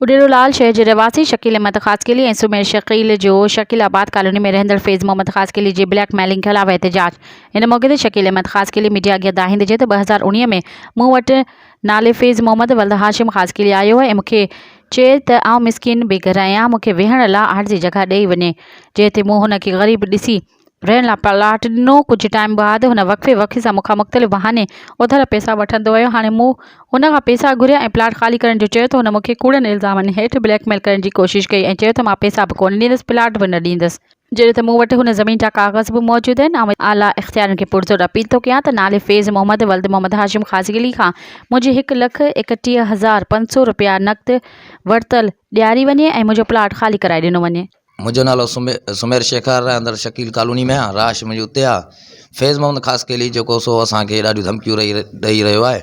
اڏيرو لال شهر جي رهواسي شڪيل احمد خاصخيلي ۽ سمير شڪيل جو شڪيل آباد ڪالوني ۾ رهندڙ فيض محمد خاصخيلي جي بليڪ ميلنگ خلاف احتجاج ان موقعي تي شڪيل احمد خاصخيلي ميڊيا اڳيان دانهيندي چيو ته ٻه هزار اڻيهه ۾ مون وٽ نالي فيض محمد ولد هاشم خاصخيلي آيو هو ۽ مون کي چير ته آئون مسڪين بي گهر آهيان، مون کي ويهڻ لا آهر جي جڳهه ڏئي وڃي. جنهن تي مون هن کي غريب ڏسي رهڻ لا پلاٽ ڏنو. ڪجهه ٽائيم بعد هن وقفي وقفي سان مون کان مختلف بهاني اوڌر پئسا وٺندو ويو. هاڻي مون هن کان پئسا گهريا ۽ پلاٽ خالي ڪرڻ جو چيو ته هن مون کي ڪوڙن الزامن هيٺ بليڪ ميل ڪرڻ جي ڪوشش ڪئي ۽ چيو ته مان پئسا به ڪونه ڏيندس پلاٽ به نه ڏيندس. جڏهن ته مون وٽ هن زمين جا ڪاغذ به موجود آهن. آء اعليٰ اختيارن کي پرزور اپيل ٿو ڪيان ته نالي فيض محمد ولد محمد هاشم خاصخيلي کان منهنجي هڪ لک ايڪٽيهه هزار پنج سؤ رپيا نقد ورتل ڏياري وڃي ۽ منهنجو پلاٽ خالي ڪرائي ڏنو وڃي. منهنجو نالو سمير شيخ آهي، رهندڙ شڪيل ڪالوني ۾ آهيان، رهائش منهنجي اتي آهي. فيض محمد خاصخيلي جيڪو سو اسان کي ڏاڍيون ڌمڪيون ڏئي رهيو آهي.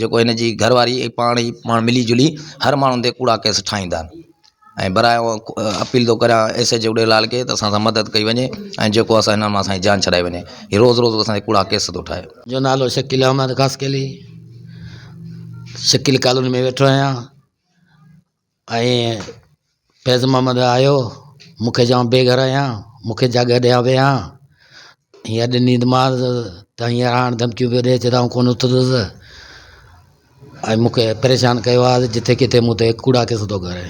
جيڪو هن جي گهر واري ۽ پاڻ ئي پاڻ ملي جلي هر ماڻهو تي ڪوڙا ڪيس ٺاهيندا آهن ۽ برائي اپيل ٿو ڪريان ايس ايچ او ڏيلال کي ته اسان سان مدد ڪئي وڃي ۽ جيڪو اسان هن مان اسانجي جان ڇڏائي وڃي هي روز روز اسان تي ڪوڙا ڪيس ٿو ٺاهي جو نالو شڪيل احمد خاصخيلي شڪيل ڪالوني ۾ ويٺو آهيان ائين فيض محمد آيو، مون کي چيائون بي گهر آهيان، مون کي جاڳ ڏي هان ويهان، هينئر اڄ نيند مانس ته هينئر هاڻ ڌمڪيون پيو ڏي چي ته آئون ڪونه اٿندس ۽ مون کي پريشان ڪيو آهي جتي ڪٿي مون تي ڪوڙا قصا ٿو ڪري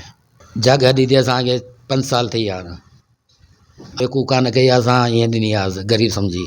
جاڳ ڏي تي اسان کي پنج سال ٿي ويا آهن ڪو ڪانه ڪئي اسان ائين ڏني آهيس غريب سمجهي